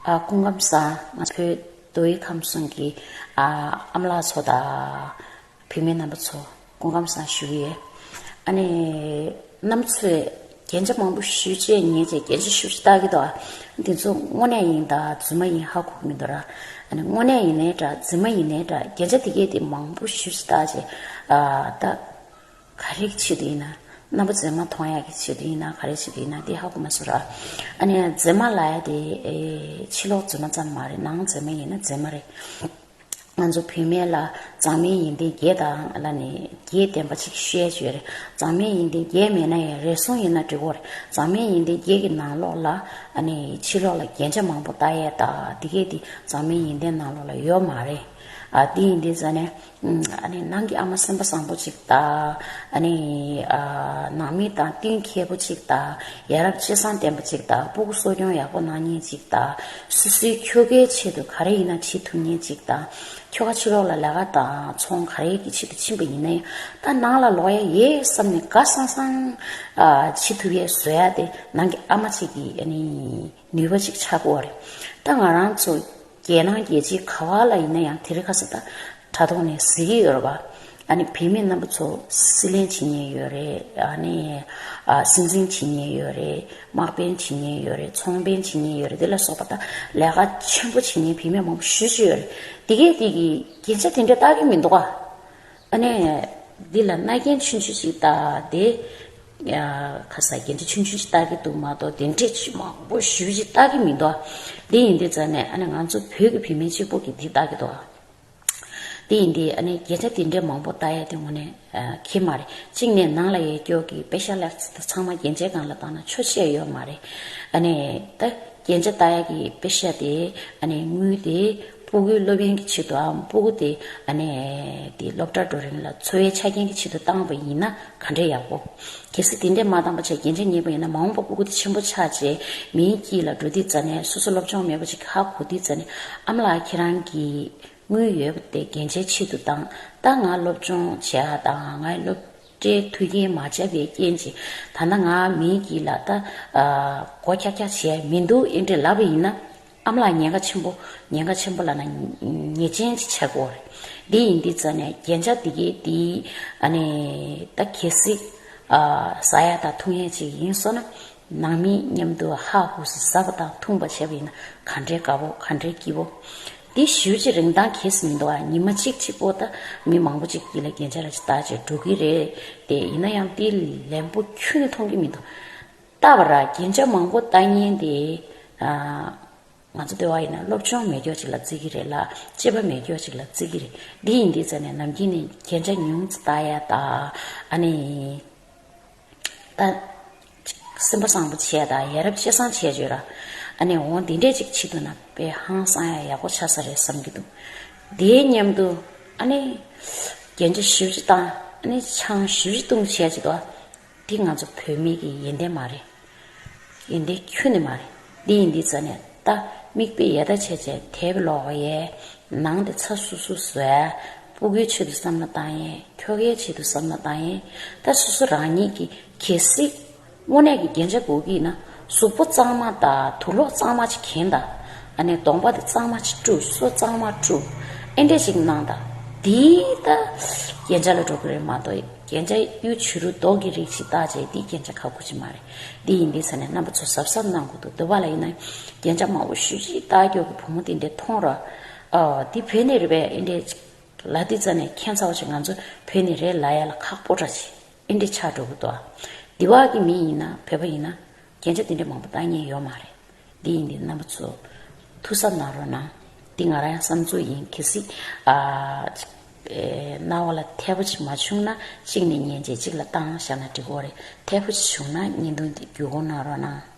སྐུ་ཁམས་བཟང། ང་ཕོད་དོའི་ཁམས་གསུམ་གྱི་ཨ་མ་ལགས་ཚོ་དང། བུད་མེད་རྣམ་པ་ཚོ་སྐུ་ཁམས་བཟང་ཞུ་གི་ཡོད། ཨ་ནེ་རྣམ་ཚོས་རྒྱན་ཆ་མང་པོ་ཞུས་རྗེས་ངས་ཀྱང་རྒྱན་ཆ་ཞུ་རྒྱུ་ལྟ་གི་འདུག་འདི་ཚོ་དངོས་གནས་ཡིན་དང་རྫུན་མ་ཡིན་ཧ་གོ་གི་མི་འདུག་ར། དངོས་གནས་ཡིན་ནའི་འདྲ་རྫུན་མ་ཡིན་ནའི་འདྲ་རྒྱན་ཆ་དེ་སྐད་དེ་མང་པོ་ཞུས་རྗེས་ལྟ། ག་རེ་གི་ཆེད་དུ་ཡིན་ན། རྣམ་པ་མཛེས་མ་མཐོང་ཡག་གི་ཆེད་དུ་ཡིན་ན་ག་རེ་ཆེད་དུ་ཡིན་ན་དེ་ཧ་གོ་མ་ཟོ་ར། ཨ་ནེ་ཡ་མཛེས་མ་ལ་ཡ་དེ་ཕྱི་ལོགས་མཛེས་མ་ཙམ་མ་རེད་ནང་མཛེས་མ་ཡིན་ན་མཛེས་མ་རེད། ང་ཚོ་བུད་མེད་ལ་མཛངས་མའི་ཡིན་ཏན་རྒྱས་དང་ལ་ནི་རྒྱས་བསྟན་པ་ཅིག་བཤད་བྱོས་རེད་མཛངས་མའི་ཡིན་ཏན་རྒྱས་མེད་ན་ཡང་རེ་ཟུང་ཡིན་ན་འགྲིག་གོ་རེད་མཛངས་མའི་ཡིན་ཏན་རྒྱས་ཀྱི་ནང་ལོགས་ལ་ཨ་ནེ་ཕྱི་ལོགས་ལ་རྒྱན་ཆ་མང་པོ་བཏགས་ཡས་དང་དེ་གས་དེ་མཛངས་མའི་ཡིན་ཏན་ནང་ལོགས་ལ་ཡོད་མ་རེད། ཨ་དེ་ཡིན་ཏན་ཟེར་ནས་ནང་གི་ཨ་མ་སེམས་པ་བཟང་པོ་ཅིག་དང། ནང་མི་དང་བསྟུན་མཁས་པོ་ཅིག་དང། ཡ་རབས་སྤྱི་བསང་ལྡན་པ་ཅིག་དང་སྤུ་གུ་གསོ་སྐྱོང་ཡག་པོ་གནང་ཉེན་ཅིག་དང། སུ་སུའི་ཁྱོ་གའི་ཆེད་དུ་ག་རེ་ཡིན་ན་བྱེད་ཐུབ་ཉེན་ཅིག་དང། ཁྱོ་ག་ཕྱི་ལོག་ལ་ལས་ཀ་དང་ཚོང་ག་རེའི་ཆེད་དུ་ཕྱིན་པ་ཡིན་ན་ཡང་ད་ནང་ལ་ལོག་ཡ་ཡེ་བསམ་ནས་དགའ་སང་སང་བྱེད་ཐུབ་ཡས་བཟོ་ཡ་དེ་ནང་གི་ཨ་མ་ཅིག་གིས། ནུས་པ་ཅིག་ཆགས་དགོས་བ་རེད་ད་ང་རང་ཚོ་རྒྱལ་ནང་རྒྱལ་སྤྱིའི་ཁ་བ་ལ་ཡིན་ན་ཡང་དེ་རིང་ཁ་སང་དྲ་ཐོག་ནས་གཟིགས་ཀྱི་ཡོད་རེད་བ་ཨ་ནི་བུད་མེད་རྣམ་པ་ཚོ་སྲིད་གླེང་བྱེད་ཉེན་ཡོད་རེད་ཨ་ནི་སྲིད་འཛིན་བྱེད་ཉེན་ཡོད་རེད་དམག་དཔོན་བྱེད་ཉེན་ཡོད་རེད་ཚོང་དཔོན་བྱེད་ཉེན་ཡོད་རེད་དེ་ལ་སོགས་པ་དང་ལས་ཀ་ཆེན་པོ་བྱེད་ཉེན་བུད་མེད་མང་པོ་ཞུ་བྱེད་ཡོད་རེད་དེ་གས་དེ་གི་རྒྱན་ཆ་དེ་འདྲ་བཏགས་ཀྱི་མི་འདུག་བ། ཨ་ནེ། འདི་ལ་རྣ་རྒྱན་ཆུན་ཆུན་ཞིག་བཏགས་ཏེ། ཁ་ཟ་རྒྱན་ཁྲི་ཆུན་ཆུན་ཞིག་བཏགས་ཀྱི་འདུག་མ་གཏོགས་རྒྱན་ཁྲི་ཆུ་མང་པོ་བཞི་བཞི་བཏགས་ཀྱི་མི་འདུག་འདི་ཡིན་འདི་ཙམ་ནས་ཨ་ནེ་ང་ཚོ་བོད་ཀྱི་བུད་མེད་གཅིག་པོ་གྱིས་འདི་བཏགས་ཀྱི་འདུག་འདི་ཡིན་འདི་ཨ་ནེ་རྒྱན་ཁྲི་དེ་འདྲའི་མང་པོ་བཏགས་ཡ་དེ་ངོ་ནས་ཁེ་མ་རེད་གཅིག་ནས་ནང་ལ་ཡས་སྐྱོགས་ཀྱི་སྤེ་ཤ་ལེགས་ཚ་དེ་ཚང་མ་རྒྱན་ཆའི་སྒང་ལ་བཏགས་ན་ཆོ་ཤེས་ཡོད་མ་རེད་ཨ་ནེ། རྒྱན་ཆ་དག་ཡག་གི་དཔེ་ཤ་དེ་དངུལ་དེ་སྤུ་གུའི་སློབ་ཡོན་གྱི་ཆེད་དུའམ་སྤུ་གུ་དེ་སློབ་གྲྭར་འགྲོ་རིང་ལ་འཚོ་བའི་ཆ་རྐྱེན་གྱི་ཆེད་དུ་བཏང་བ་ཡིན་ན་ག་འདྲའི་ཡག་པོ། གལ་སྲིད་དེ་འདྲས་མ་བཏང་བར་ཆ་རྐྱེན་ཆ་ཉེས་པ་ཡིན་ན་མ་འོངས་པར་སྤུ་གུ་དེ་ཆེན་པོ་ཆགས་རྗེས་མིའི་དཀྱིལ་ལ་འགྲོ་དུས་རྩ་ནས་སོ་སོ་སློབ་སྦྱོང་མེད་པ་ཅིག་ཧ་གོ་དུས་རྩ་ནས་ཨ་མ་ལགས་ཁྱེད་རང་གིས་དངུལ་ཡོད་པ་དེ་རྒྱན་ཆའི་ཆེད་དུ་བཏང་ད་ང་སློབ་སྦྱོང་བྱེད་ཨ་དང་ང་ཡི་སློབ། སྐྲའི་མཐུ་རྐྱེན་མ་ཆད་པའི་རྐྱེན་གྱིས་ད་ནངས་མིའི་སྐྱིད་ལ་ལྟ། གོ་ཁྱག་ཁྱག་བྱས་མི་འདུག་ཨེ་འདྲས་ལབ་པ་ཡིན་ན། ཨམ་ལགས་ཉེན་ཁ་ཆེན་པོ། ཉེན་ཁ་ཆེན་པོ་ལ་ན་ཉེས་ཅན་གྱི་ཆག་སྒོ་རེད། འདི་ཡིན་འདི་ཙམ་ནས་རྒྱན་ཆ་འདི་གས་འདི། ཨ་ནི། ད་གལ་སྲིད། ཟ་ཡ་དང་འཐུང་ཡ་ཅིག་ཡིན་སོང་ན། ནང་མི་མཉམ་དུ་ཧ་ཧུ་སི་ཟ་བ་དང་འཐུང་བ་བྱས་པ་ཡིན་ན་ག་འདྲའི་དགའ་བོ་ག་འདྲའི་སྐྱིད་བོ། དེ་བཞུར་གྱི་རིང་ཐང་གེས་མི་འདུག་ཨ་ཉི་མ་གཅིག་གཅིག་པོ་ད་མི་མང་པོ་གཅིག་གིས་ལ་རྒྱན་ཆ་ར་ཅི་བཏགས་ཅིག་འགྲོ་གི་རེད་དེ་ཡིན་ན་ཡང་དེ་ལན་པོ་ཁྱོད་ནས་མཐོང་གི་མི་འདུག་ད་བར་ར་རྒྱན་ཆ་མང་པོ་བཏགས་ཉེན་དེ་ང་ཚོ་སྡོད་བ་ཡིན་ན་སློབ་ཆུང་མེད་སྐྱོག་ཅིག་ལ་བརྩི་གི་རེད་ལ་སྐྱེས་པ་མེད་སྐྱོག་ཅིག་ལ་བརྩི་གི་རེད་དེ་ཡིན་དེ་ཟེར་ནས་ནམ་རྒྱུན་ནས་རྒྱན་ཆ་ཉུང་བཏགས་ཡ་ད་ཨ་ནི། ད། སེམས་པ་བཟང་པོ་བྱས་དང་ཡ་རབས་ཤེས་བཟང་བྱས་བྱོས་ར། ཨ་ནེ་འོ་འདི་འདྲས་ཅིག་ཕྱི་དུ་ན་པའི་ཧང་སང་ཡང་ཡག་པོ་ཆགས་ས་རེད་བསམ་གྱི་འདུག་དེའི་མཉམ་དུ། ཨ་ནེ། རྒྱན་ཆ་བཞི་བཞི་བཏང་ཨ་ནེ་ཆང་བཞི་བཞི་བཏུང་བྱས་བྱས་ཏོ། དེ་ང་ཚོ་བོད་མིག་གི་ཡེ་འདེ་མ་རེད། ཡིན་ཏེ་ཁྱོད་ནི་མ་རེད་འདི་ཡིན་འདི་རྩ་ནས་བལྟ། མིག་དཔེ་ཡལ་ད་ཆད་ཆད་དལ་བུ་ལོག་བ་ཡལ། ནང་དེ་ཚ་སུ་སུ་ཟེར། སྤུ་གུའི་ཆེད་དུ་བསམ་ན་བཏང་ཡལ་ཁྱོ་གའི་ཆེད་དུ་བསམ་ན་བཏང་ཡལ། ད་སོ་སོ་རང་ཉིད་ཀྱིས་གལ་སྲིད། དངོས་གནས་ཀྱི་རྒྱན་ཆ་སྒོ་ཀི་ན་གཟུགས་པོ་གཙང་མ་དང་དུག་ལོག་གཙང་མ་ཅིག་གྱེན་ད། ཨ་ནེ་གདོང་པ་དེ་གཙང་མ་ཅིག་བཀྲུ་སོ་གཙང་མ་བཀྲུ། ཨེ་འདྲས་ཅིག་གནང་ད། འདིས་ད་རྒྱན་ཆ་ལ་འགྲོ་གི་རེད་མ་གཏོགས། རྒྱན་ཆ་གཡུ་བྱུ་རུ་མདོག་གི་རིགས་ཤིག་བཏགས་རྗེས་འདི་རྒྱན་ཆ་ཁག་གོ་ཆེན་མ་རེད་འདི་ཡིན་འདི་ཟེར་ནས་རྣམ་པ་ཚོ་ཟབ་ཟབ་གནང་དགོས་འདུག་འདི་བ་ལ་ཡིན་ན་རྒྱན་ཆ་མང་བོ་ཞུས་རྗེས་རྟ་མགྱོགས་ཀྱི་བུ་མོ་དེ་འདྲས་མཐོང་ར་ཨོའོ་འདི་བོད་ནས་རེད་པས་ཨེ་འདྲས་ལ་འདི་རྩ་ནས་མཁྱེན་ཚ་བ་ཞིག་ང་ཚོ་བོད་ནས་རེད་ལ་ཡ་ལ་ཁག་པོ་འདྲ་ཆེ་ཨེ་འདྲས་ཆགས་འགྲོ་གི་འདུག་འདི་བ་གི་མི་ཡིན་ན་བོད་པ་ཡིན་ན་རྒྱན་ཆ་འདི་འདྲ་མང་པོ་བཏགས་ཉེན་ཡོད་མ་རེད། འདི་ཡིན་འདི་རྣམ་པ་ཚོ། ཐུགས་གཟབ་གནང་རོགས་གནང། འདི་ང་རང་ཡང་བསམ་ཚུལ་ཡིན་གལ་སྲིད། རྣ་བ་ལ་ཐལ་བོ་ཆེ་མ་བྱུང་ན་གཅིག་ནས་ཉན་རྗེས་གཅིག་ལ་བཏགས་ན་བཞག་ན་འགྲིག་གོ་རེད། ཐལ་བོ་ཆེ་བྱུང་ན་བརྙན་ཐུང་འདི་བརྒྱུད་གོ་གནང་རོགས་གནང།